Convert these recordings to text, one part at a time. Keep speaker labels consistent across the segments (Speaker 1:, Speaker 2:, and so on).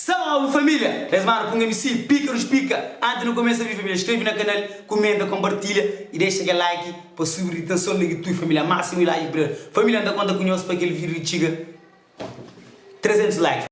Speaker 1: Salve família! Es mano punga mi si pika nos pika anti nu kumesa vi família skrebe na kanal kumenta konpartilha i dexa kel like pa subi di tenson na ki tui família másimu i like brother família nta konta ku nhos pa kel vídeo di txiga 300 like.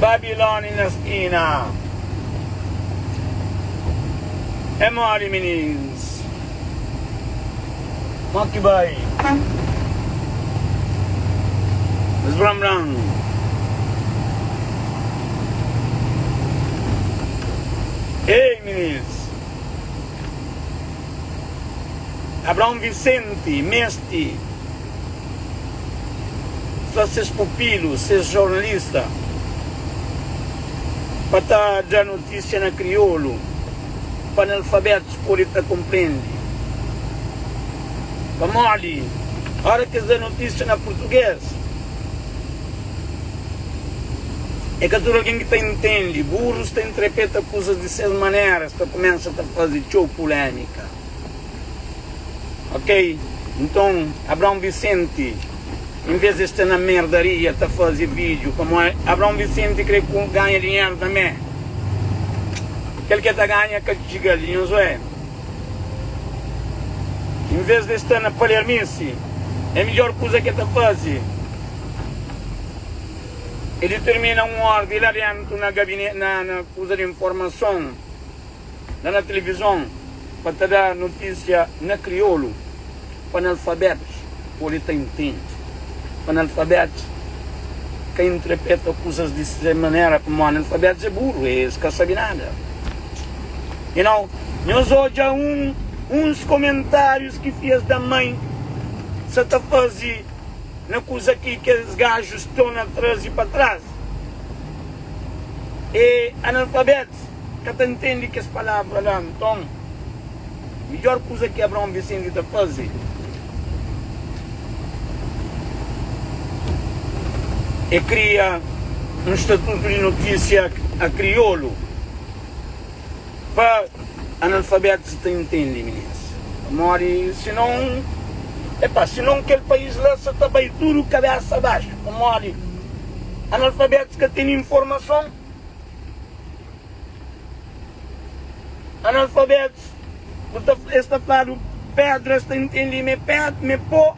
Speaker 2: Babiloni na skina É modi minins. Má ki bai sbran-bran. Ei minis! Abraon Visenti meste fla ses pupilu, ses jornalista, pa ta dra notísia na kriolu pa analfabétus. Pode ta konprende pamodi óras ki es da notísia na purtuges é ka tudu algen ki ta intende. Burus ta intrepeta kuzas di ses manera, es ta kumesa ta faze txeu pulémika. Ok, nton Abraon Visenti. Envês di es sta na merdaria ta faze vídiu pamó Abraon Visenti krê ganha dinheru tanbê. Kel ki el ta ganha ka txiga-l di Nhanzué. Envês di es sta na palermice, é midjór kuza ki el ta faze é ditirmina un órdi la déntu na kuza di informason. la na televizon pa ta da notísia na kriolu pa analfabetus pode ta intende. Pa analfabetus ka intrepeta kuzas di se manera pamó analfabetus é buru, es ka sabe nada. E nau nhos odja un uns komentárius ki fias da mai sa ta faze na kuza ki kes gajus torna traze pa traz. E analfabetus. ka ta ntende kes palavra la. Nton, midjór kuza ki Abraon Visenti ta faze é kria un statutu di notísia a kriolu pa analfabétus ta ntende, minês. Pamodi sinon, epa, sinon kel país la sa ta bai tudu kabésa baxu, pamodi analfabétus ka ten informason. Analfabetus, bu ta, es ta fladu pedra, es ta intendi ma é ped, ma é po,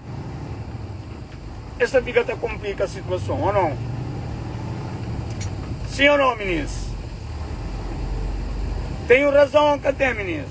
Speaker 2: es ta fika ta konplika situason, o non? Sim o non, minis? Tenho razão o ka tem, minis?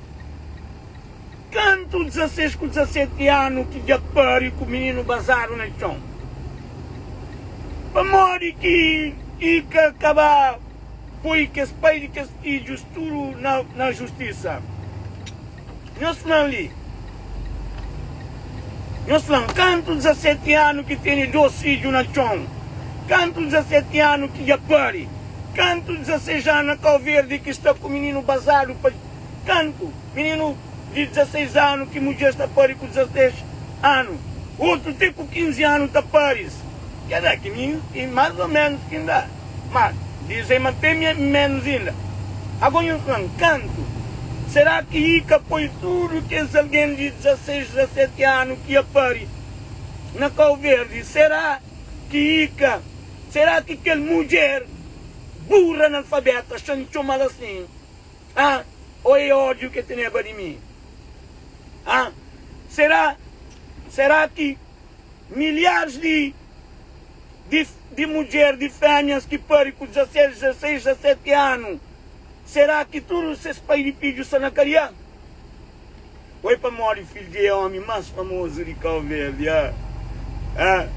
Speaker 2: Kantu 16 ku 17 anu ki dja pâre ku mininu bazadu na txon? Pamodi ki i ka ka ba poi kes pai di kes fidjus tudu na justisa? Nhos fla-m li, nhos fla-m, kantu 17 anu ki tene dos fidju na txon? Kantu 17 anu ki dja pâre? Kantu 16 anu na Kauverdi ki sta ku mininu bazadu pa. Kantu mininu di 16 anu ki mudjer sta pari ku 16 anu, otu ti ku 15 anu ta paris. Ke da ki mi i mas o menus ki N da, ma dizem ma te mi e menus inda. Ago nhos flan kantu? Sera ki i ka poi tudu kes algen di 16, 17 anu ki a pari na Kau Verdi? Sera ki i ka? Sera ki kel mudjer burra analfabeta, xa N txomal asin, Ah, oh e ódiu ke teneba di mi Ah, será, será ki Milharis di, di, di mudjer, di fémias ki pari ku dizaseti, dizaseis, dizaseti anu Será ki tudu ses pai di fidju sta na kadiâ? Foi pamodi fidju di e omi mas famozu di Kau Verdi a a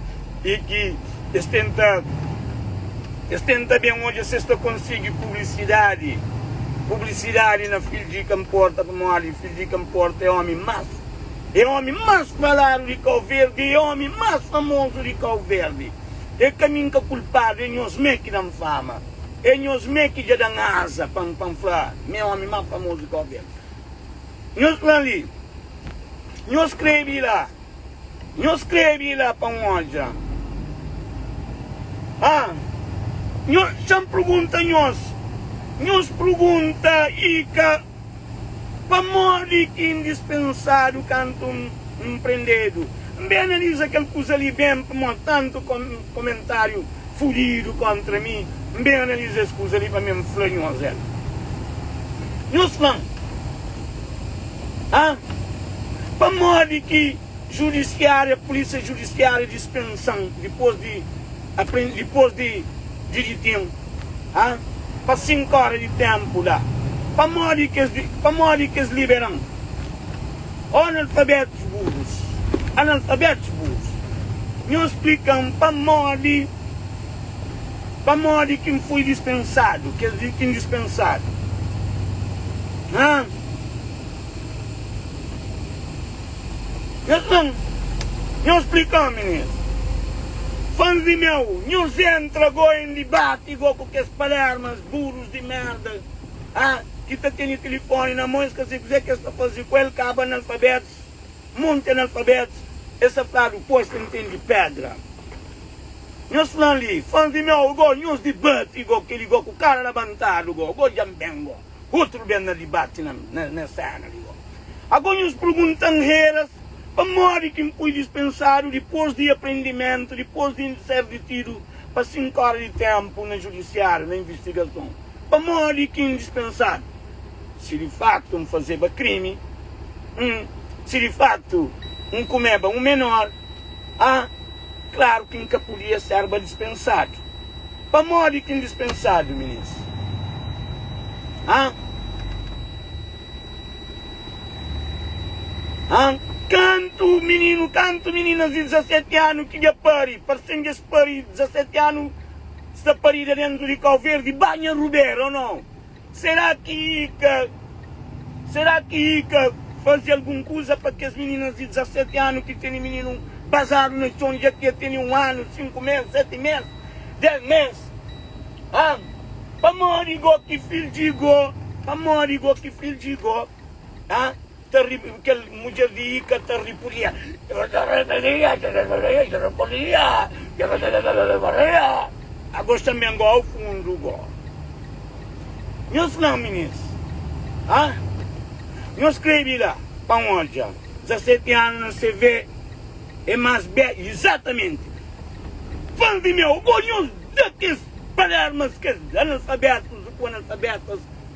Speaker 2: i ki es tenta es tenta ben odja si es ta konsigi publisidadi publisidadi na fidju di ka nporta pamodi fidju di ka nporta e omi mas e omi mas faladu di Kau Verdi e omi mas famozu di Kau Verdi e ka mi nka kulpadu e nhos me ki dan fama e nhos me ki dja dan aza pa pa nfla mi e omi mas famozu di Kau Verdi. Nhos fla-m li. Nhos skrebe-i la. Nhos skrebe-i la pa N odja. Ha! Nho, xa N pergunta nhos. Nhos pergunta i ka. Pamodi ki N dispensadu kantu N N prendedu? N ben analiza kel kuza li ben, pamodi tantu. Komentáriu fudidu kontra mi. N ben analiza es kuza li pa mi N fla nhos el. Nhos fla-m ha? Pamodi ki judisiária, pulísia judisiária dispensa-m dipôs di apren, dipôs di di diten-m ha? Pa sinku óra di ténpu la? Pamodi ki es, pamodi ki es libera-m? Ó analfabetus burus, analfabetus burus, Nho splika-m pamodi, pamodi ki N foi dispensadu, kes di ki N dispensadu, ha? Nhos fla-m, Nho splika omin es, fans di meu, Nhos entra goi N dibati goi ku kes palermas burus di merda, Ha, ki ta tene tilifoni na mon es ka sai kuzé ki es ta faze ku el, kaba analfabetus, monti analfabetus, es sa fladu ku es ta intendi pedra. Nhos flan li, fans di meu, go nhos dibati, go keli go ku kara labantadu, go, go dja-m ben, go utru ben na dibati na-m, na, na sena li, go. Ago nhos purgunta-m reras, pamodi ki-m pui dispensadu dipos di aprendimentu, dipos di ser ditidu pa sinku ora di tenpu na judisiariu, na investigason? Pamodi ki N dispensa-l? Si di faktu N fazeba krimi, N, si di faktu N kumeba un menor, a, klaru ki N ka podia sérba dispensadu. Pamodi ki N dispensadu, minês? A. A. Kantu mininu, kantu mininas di 17 anu ki dja pari, parse-m dja es pari 17 anu, Sta parida dentro di kau verdi banha rubera o não? Será ki i ka Será ki i ka fazi algun kuza pa kes mininas di 17 anu ki tene mininu bazadu na txon dja ki e tene un anu, sinku mes, seti mes, des mes? Ham, pamodi go ki fil dji go, pamodi go ki fil dji go, ha? Ta ri, kel mudjer di Ika ta ripudia. A gos tanbe N goa fundu go. Nhos fla-m minis, a Nhos krê di la pa N odja. Dizaseti anu na CV é más bê Izatamenti Fans di meu, go nhos da kes palermas, kes analfabetus, ku analfabetas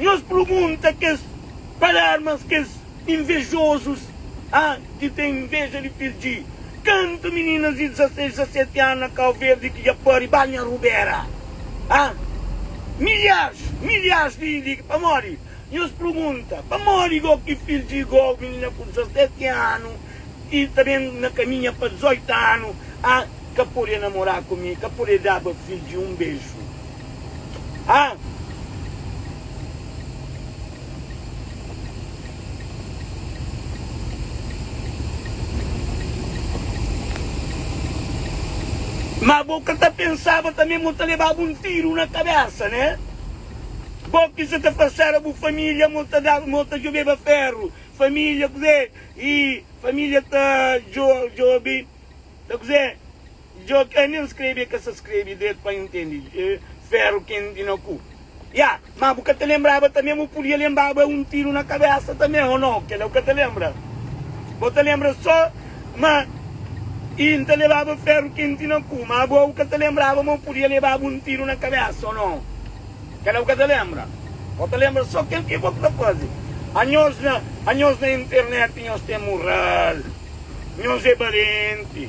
Speaker 2: Nhos pergunta kes palermas, kes invejozus, ha, ki ten inveja di perdji kantu meninas di 16, 17 anu na Kau Verdi ki dja pari banha rubera, ha? Milharis, milharis di di ki. Pamodi? Nhos pergunta, pamodi gó ki perdji gó menina ku 17 anu ki ta ben na kaminha pa 18 anu, ha, ka pode namora ku mi, ka pode daba perdji un beju? Ah! Má bo ka ta pensaba tanbê ma N ta lebaba un tiru na kabésa, ne? Bo ki sa ta fase éra bu família ma ta daba, ma ta djobeba féru. Família kuzê? I família ta djo-djobe, ta kuzê? Djo ke nen skrebe e ka sa skrebe dretu pa intende feru kenti na ku. Ya, ma bu ka ta lembraba tambe ma bu pudia lembaba un tiru na kabesa tambe o no? Kela bu ka ta lembra. Bo ta lembra so ma i nta lebaba feru kenti na ku, ma bo bu ka ta lembraba ma bu pudia lebaba un tiru na kabesa o no? Kela bu ka ta lembra. Bo ta lembra so kel ke bo ta faze. Anhos na anhos na internet nhos ten mural. Nhos e balenti.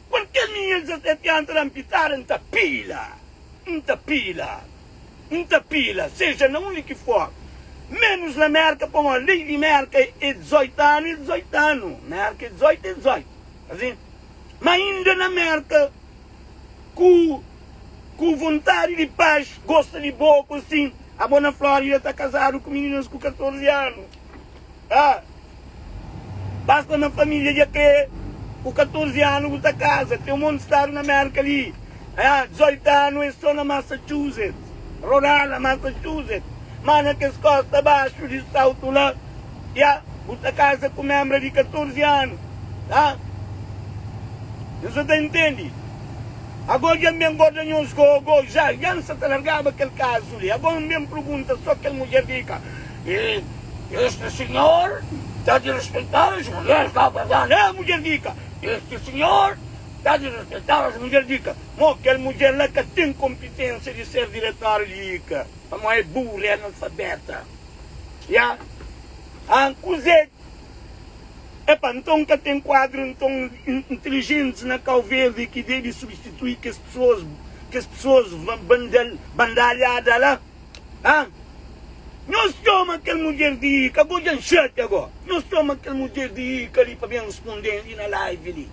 Speaker 2: Qual caminho el dja sta pianta da mpitar N ta pila, N ta pila, N ta pila Seja na undi ki for Menus na Merka pa mó Lei di Merka é 18 anu é 18 anu Merka é 18 é 18 Asin ma inda na Merka Ku ku vontadi di pax Gosta di bô ku sin Abó na Flórida ta kazadu ku mininas ku 14 anu. Ah, basta na família dja krê Ku 14 anu bu ta kaza Ten un monti stadu na Mérka li Ah, 18 anu é sô na Massachusetts Rhode Island, Massachusetts Má na kes kósta baxu di South la Ya, bu ta kaza ku un énbra di 14 anu Ah, nhos sa ta intende Agô dja N ben gorda nhos gôgô Dja, dja N sa ta largaba kel kazu li Agô N ben prugunta sô kel mudjer di ka E este senhor ta de respeitar as mulheres lá guardar né mulher dica este senhor ta de respeitar as mulher dica mo aquel mulher lá ca tem competência de ser diretor dica pa mo é burro é analfabeta ya ahn kuzê epa então ca tem quadro então inteligentes na cau verde que deve substituir que as pessoas que as pessoas bandalhada lá Ha? Nhos txoma kel mudjer di Ika, bo dja-m xatia gó. Nhos txoma kel mudjer di Ika li pa ben responde-m li na live li.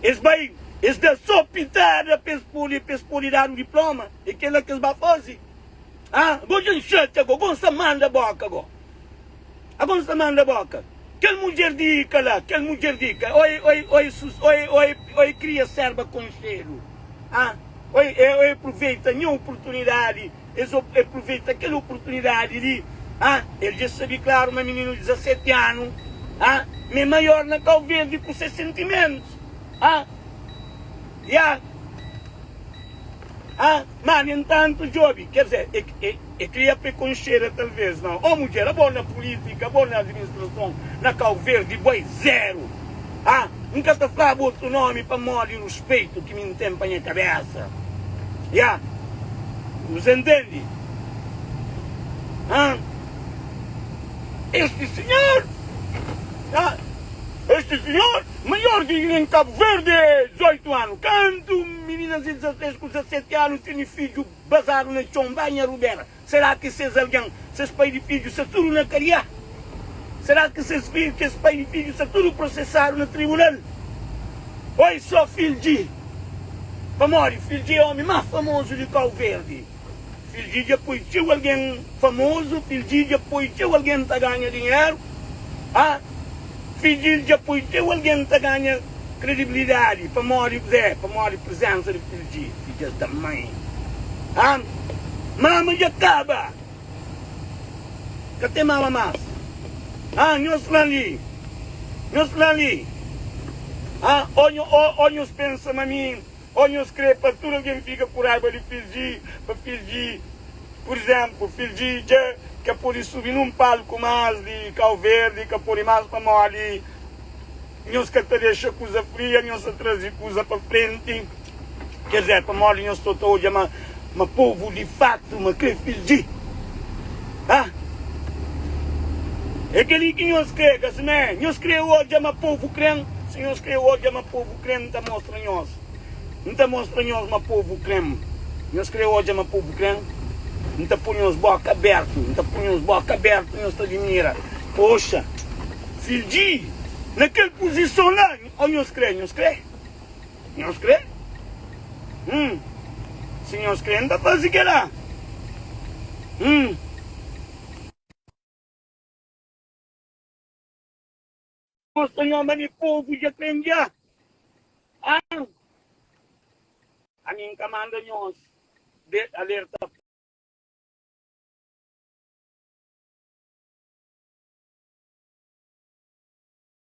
Speaker 2: Es bai, es da so pitada pa es pode, pa es pode dadu diploma? É kel-la ki es ba faze? Ha? Bo dja-m xatia gó, bo N sa manda bóka gó. Ago nu sta manda boka kel mudjer di ka la, kel mudjer di ka. Oi, oi, oi, sus, oi, oi, oi kria serba konxedu, ah, oi, e, oi apruveita nha oportunidadi, es o, e pruveita kel oportunidadi li, ah, el dja sabi klaru ma mininu di 17 anu, ah, ma e maior na Kau Verdi ku se sentimentus, ah, ya, ah. Má, nu entantu, djobe, ker dizê, e kria prekonxeda, talvês, ma un mudjer abo na pulítika, abo na administrason na Kau Verdi, bo é zéru. Ha? N ka ta fla bo otu nómi pamodi ruspeitu ki mi N ten pa nha kabésa. Ya. Bu sa ntende? Ha? Esti sinhor, ha? Esti sinhor, maior di Gine, N Kabu Verdi, é 18 anu. Kantu. Mininas di 16 ku 17 anu tene fidju bazadu na txon, ba nha rubera. Sera ki ses algen, ses pai di fidju sta tudu na kadiâ? Sera ki ses fidju, kes pai di fidju sta tudu prosesadu na tribunal? Oi so fildji, pamodi fildji é omi más famozu di Kauverdi. Kel dia dja poi txeu algen famozu Kel dia dja poi txeu algen ta ganha dinheru ha Kel dia dja poi txeu algen ta ganha kredibilidadi Pamodi Kuzê? Pamodi prizénsa di Kel dia Kel dia es da mai ha Mama dja kaba Ka ten mama más ha Nhos fla-m li Nhos fla-m li ha Ô, ô, ô, nhos pensa ma mi Ó, nhos krê pa tudu algen fika ku raiba di fidji, pa fidji, pur izénplu, fidji dja ka pode subi nun palku más di kau verdi i ka pode más pamodi nhos ka ta dexa kuza fria, nhos ta traze kuza pa frenti. Kézé, pamodi nhos sta ta odja ma, ma povu di fatu ma krê fidji. Ha? É kel-li ki nhos krê, ka simé? Nhos krê odja ma povu krê-m? Si nhos krê odja ma povu. Krem ta mostra nhos. N ta mostra nhos ma povu krem. Nhos kre odja ma povu krem? N ta pô nhos bóka abértu. N ta pô nhos bóka abértu, nhos ta dimira. Poxa! Fidji, na kel puzison la, ô nhos kre? Nhos kre? Nhos kre? Hum. Si nhos kre, N ta faze kel-la. Hum. Nós ta nha ma ne povo dja kandia ah ami nka manda nhos de alerta.